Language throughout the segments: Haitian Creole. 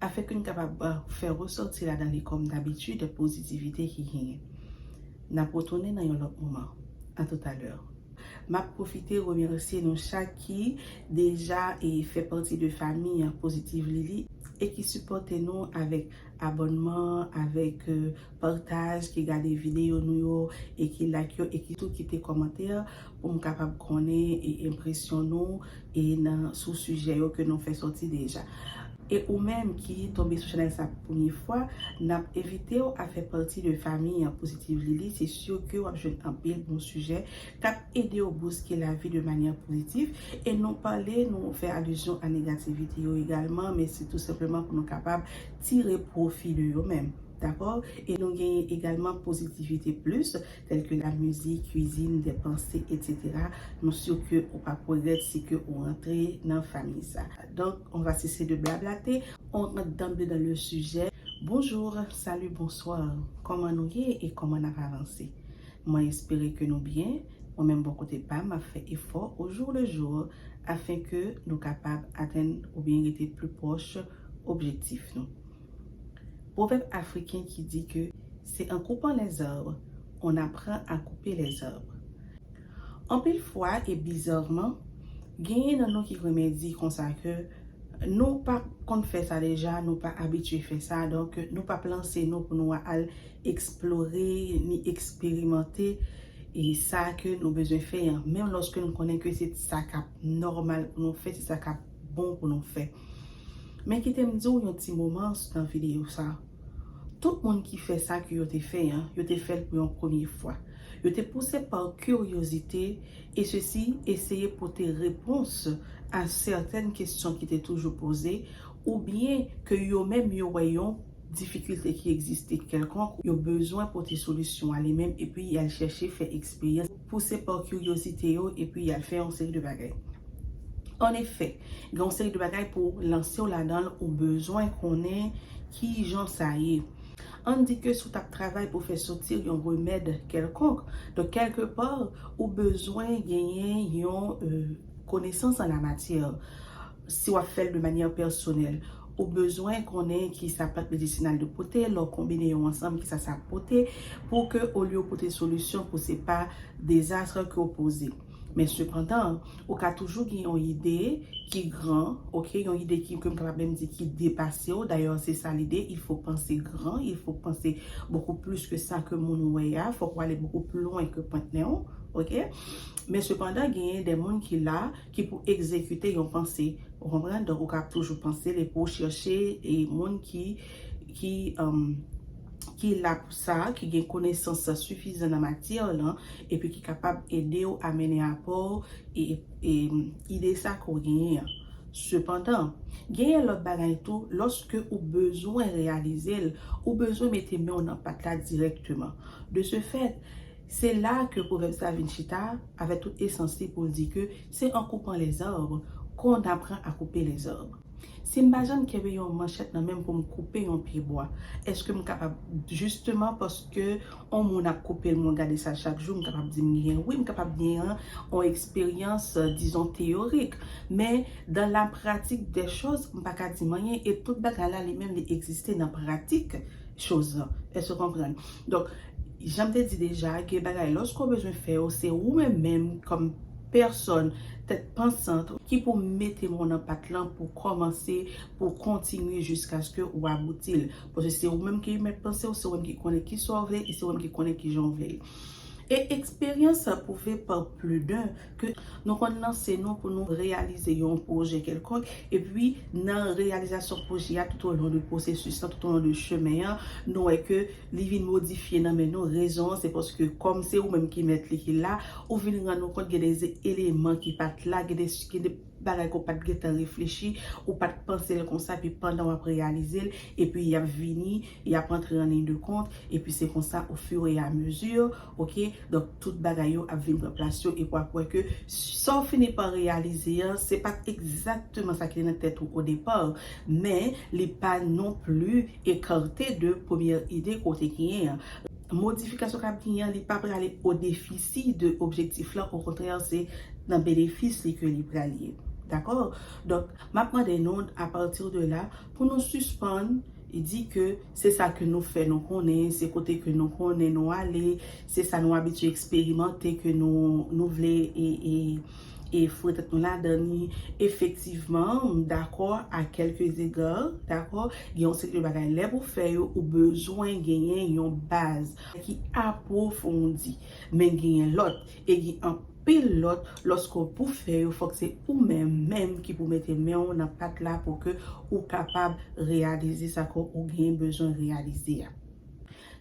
Afin ke n kapab fè resòti ladan li kòm dabitid pozitivite ki genyen. N ap retounen nan yon lòt moman. A tout a lè. M ap pwofite remèsye nou chak ki deja fè pati de fanmi Positively li e ki sipòte nou avèk abònman, avèk Partage, ki gade videyo nou yo e ki like yo e ki tou kite kòmantè pou m kapab konnen e enpresyon nou e nan sou sijè yo ke nou fè sòti deja. E ou menm ki tonbe sou chanèl sa pou premye fwa, n ap envite w a fè pati de fanmi an Positive Lily, se si ke w ap jwenn anpil bon sijè k ap ede w bouske lavi de manyè pozitif e nou pale, nou fè alizyon a negativite yo egalman men se tou senpleman pou nou kapab tire pwofi de yo menm. Dakò? E nou genyen egalman positivite plis, tèl ke la mizik, kwizin, dè panse, etc. Nou sur ke ou pap regrèt si ke ou rantre nan famiy sa. Donk, on va cesser de blablate, on rant danble dan le sijè. Bonjour, salut, bonsoir, kòman nou ye e kòman nap avanse? Mwen espere ke nou byen, mwen menm bò kote pam map fè efò au jour le jour afin ke nou kapab atenn oubyen rete pli pwòch objektif nou. Pwovèb afriken ki di ke se an koupan lè zarbr on apran a koupe lè zarbr. Anpil fwa e bizarman, genyen nan nou ki renmen di konsa ke nou pa konn fè sa deja, nou pa abitye fè sa, donk nou pap lanse nou pou nou al eksplore ni eksperimante e sa ke nou bezwen fè an, menm lòske nou konnen ke se sa kap nòmal pou nou fè, se sa kap bon pou nou fè. Men kite m di w yon ti moman nan videyo sa. Tout moun ki fè sa ke yo te fè an, yo te fè l pou yon premye fwa. Yo te pouse pa kiryozite e sesi eseye pote repons a sèten kesyon ki te toujou poze ou byen ke yo menm yo wè yon difikilte ki egziste kèlkonk yo bezwen pote solisyon a li menm epi y al chèche fè eksperyans pouse pa kiryozite yo epi y al fè yon seri de bagay. An efè, gen yon seri de bagay pou w lanse w ladan l, ou bezwen konnen ki jan sa ye. An n di ke si w t ap travay pou fè soti yon remèd kèlkonk, donk kèlke pa, ou bezwen genyen yon konesans an lamatyè, si w ap fè l de manyè pèsonèl. Ou bezwen konnen kisa plant medisinal yo pote, lè w konbine yo ansanm kisa sa ap pote, pou ke olye w pote solisyon pou se pa dezastre ke w poze. Men sepandan, ou ka toujou gen yon ide ki gran, ok, yon ide ki, ke m kapab menm di ki depase w, dayè se sa lide, il fo panse gran, il fo panse bokou plis ke sa ke moun wè a, fòk w ale bokou pli lwen ke pwent nen w, ok. Men sepandan genyen de moun ki la, Ki pou egzekite yon panse, ou konprann? Donk ou kab toujou panse l epi w chèche e moun ki ki ki la pou sa, ki gen konesans sifizan nan matyè lan epi ki kapab ede w a mennen apò w e e ide sa ke w genyen an. Sepandan, genyen lòt bagay tou, lòske ou bezwen reyalize l, ou bezwen mete men w nan pat la dirèkteman. De se fèt, Se la ke pwovèb sa vin chita avèk tout esans li pou l di ke se an koupant lè zarbr kon n apran a koupe lè zarbr. Si m pa janm kenbe yon manchèt nan men m pou m koupe yon pye bwa, èske m kapab jisteman paske on moun ap koupe l mwen gade sa chak jou m kapab di m gen? Wi m kapab gen yon on eksperyans dizon teyorik, men dan la pratik dè choz m pa ka di m anyen e tout bagay la li menm li egziste nan pratik choz lan. Èske w konprann? Donk. Janm te di deja ke bagay loske w bezwen fè yo se ou menm menm kòm pèsòn tèt pansant ki pou mete mò nan pat lan pou kòmanse pou w kontinye jiskaske ou abouti l. Paske se ou menm ki mèt panse w, se ou menm ki konnen kisa w vle e se ou menm ki konnen kijan w vle l. E eksperyans sa pwouve pa pli d'un ke nou konn lanse nou pou nou reyalize yon pwojè kèlkonk epi nan reyalizasyon pwojè a toutolon de pwosesis lan, toutolon de chemen an nou wè ke Li vin modifye nan men nou, rezon an se paske kòm se ou menm ki mèt li ki la, ou vin rann ou kont gen de eleman ki pa t la, gen de gen de bagay ke w pa t gen tan reflechi, ou pa t panse l konsa epi pandan w ap reyalize l epi y ap vini, y ap antre an liy de kont epi se konsa o fur et à mesure ok donk tout bagay yo ap vin pran plas yo epi w ap wè ke sa w fini pa reyalize an se pa t egzakteman sa ki te nan tèt ou au départ. Men, li pa non pli ekarte de premyè ide ke w te genyen an. Modifikasyon kap genyen an, li pa prale o defisi de objektif lan, okontrè se nan benefis li ke li pral ye. Dakò? Donk, map mande nou, a pati de la, pou nou sispann di ke se sa ke nou fè nou konnen, se kote ke nou konnen nou ale, se sa nou abitye eksperimante ke nou vle e. e fwètèt mwen ladan li efektivman m dakò a kèlke zega dakò gen yon seri de bagay lè pou fè yo ou bezwen genyen yon baz ki apwofondi men genyen lòt e gen anpil lòt lòske w pou fè yo fòk se ou menm menm ki pou mete men w nan pat la pou ke ou kapab reyalize sa ke ou genyen bezwen reyalize a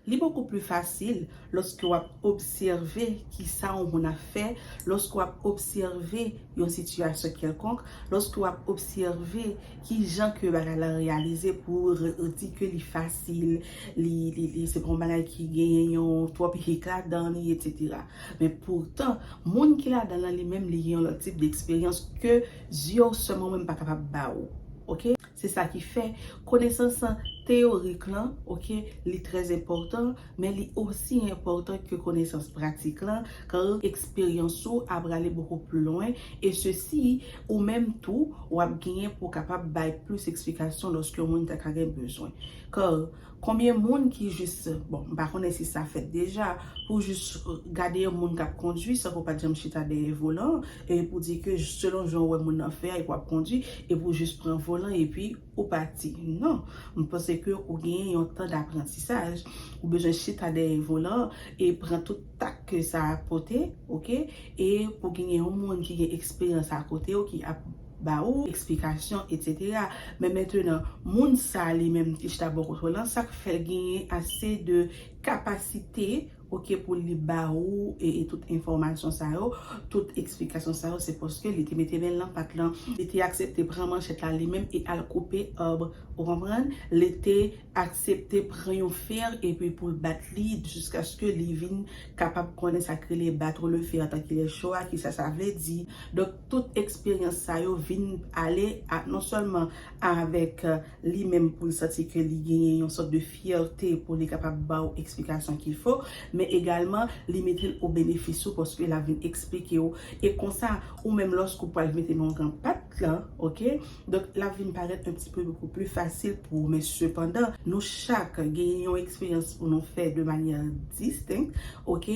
Li bokou pli fasil lòske w ap obsève ki sa yon moun ap fè, lòske w ap obsève yon sitiyasyon kèlkonk, lòske w ap obsève ki jan ke bagay la reyalize pou ou di ke li fasil, li se pa yon bagay ki genyen yon twòp hik ladan li, etsetera. Men poutan, moun ki ladan l lan li menm li gen yon lòt tip deksperyans ke zye w sèlman menm pa kapab ba ou. Ok. Se sa ki fè, konesans lan teyorik lan, ok, li trè enpòtan, men li osi enpòtan ke konesans pratik lan, car eksperyans ou a prale beaucoup plus loin, et ceci, ou menm tou, w ap genyen pou w kapab bay plis eksplikasyon lòske yon moun ta ka gen bezwen. Car. Konbyen moun ki jis, bon m pa konnen si sa fèt deja, pou jis gade yon moun k ap kondwi san ke w pa t janm chita dèyè volan an, e pou di ke selon jan ou wè moun nan fè a epi w ap kondwi, epi w jis pran volan epi ou pati. Non. M panse ke ou genyen yon tan daprantisaj. Ou bezwen chita dèyè volan an e pran tout tak ke sa pote, ok, e pou genyen yon moun ki gen eksperyans akote w ki ap. ba ou eksplikasyon etc men mentenan moun sa li menm ki chita bò kote w lan sa k fè genyen ase de kapasite ok pou li ba ou tout enfòmasyon sa yo tout eksplikasyon sa yo se paske li te mete men l nan pat lan li te aksepte pran manchèt la li menm e al koupe èb ou konprann li te aksepte pran yon fer epi pou l bat li jiskaske li vin kapab konnen sa k rele battre le fer tank il est chaud a kisa sa vle di donk. tout eksperyans sa yo vin ale ak non sèlman avèk li menm pou l santi ke li genyen yon sòt de fyète pou li kapab ba ou eksplikasyon ki fo, men egalman li mete l o benefis ou paske l ap vin eksplike ou e konsa ou menm lòske ou pral mete non gan pat lan ok donk l ap vin parèt un ti peu beaucoup plus facile pou ou men sepandan nou chak genyen yon eksperyans pou nou fè de manyè distinct ok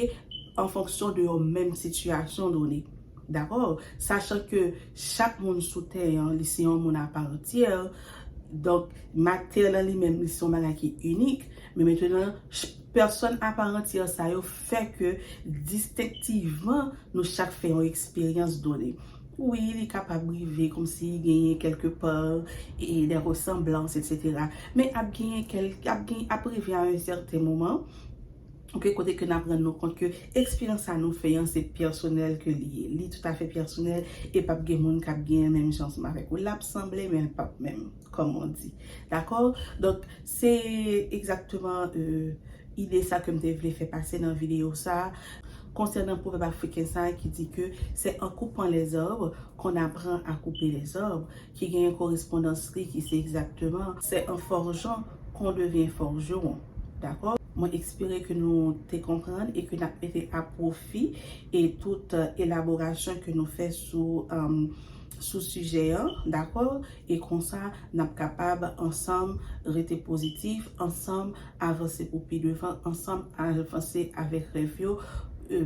an fonksyon de yon menm sitiyasyon done. Dakò, sachan ke chak moun sou tè an, li se yon moun aparantyè, donk matè lan li menm li se yon bagay ki inik, men mentenan, pèsòn aparantyè sa yo fè ke distenktivman nou chak fè yon eksperyans done. Wi, li kapab rive kòmsi genyen kèlke pa e dè resanblans, etsetera, men ap genyen kèlke, ap gen, ap rive a yon sèten moman, Ok kote ke nap rann nou kont ke eksperyans sa nou fè an se pèsonèl ke li ye li tout afè pèsonèl e pap gen moun kap gen menm jan ansanm avèk ou lap sanble men l pap menm kòm on di dakò donk se egzakteman ide sa kem te vle fè pase nan videyo sa konsènan pwovèb afriken sa ki di ke se an koupant lèzòb kon apran a koupe lèzòb Ki genyen korespondans li ki se egzakteman, Se an forjan kon devyen forgeron. Dakò? Mwen ekspere ke nou te konprann e ke nap mete a pwofi e tout elaborasyon ke nou fè sou sou sijè an. Dakò? E konsa nap kapab ansanm rete pozitif, ansanm avanse pou pi devan, ansanm avanse avèk rèv yo,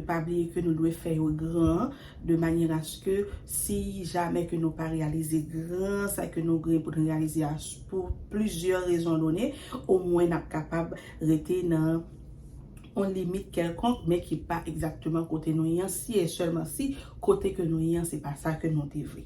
pa bliye ke nou dwe fè yo gran. de manyè aske si jamè ke nou pa reyalize gran sa ke nou gen pou nou reyalize a pou plizyè rezon done, omwen n ap kapab rete nan yon limit kèlkonk men ki pa egzakteman kote nou ye an, si e sèlman si kote ke nou ye an se pa sa ke nou te vle.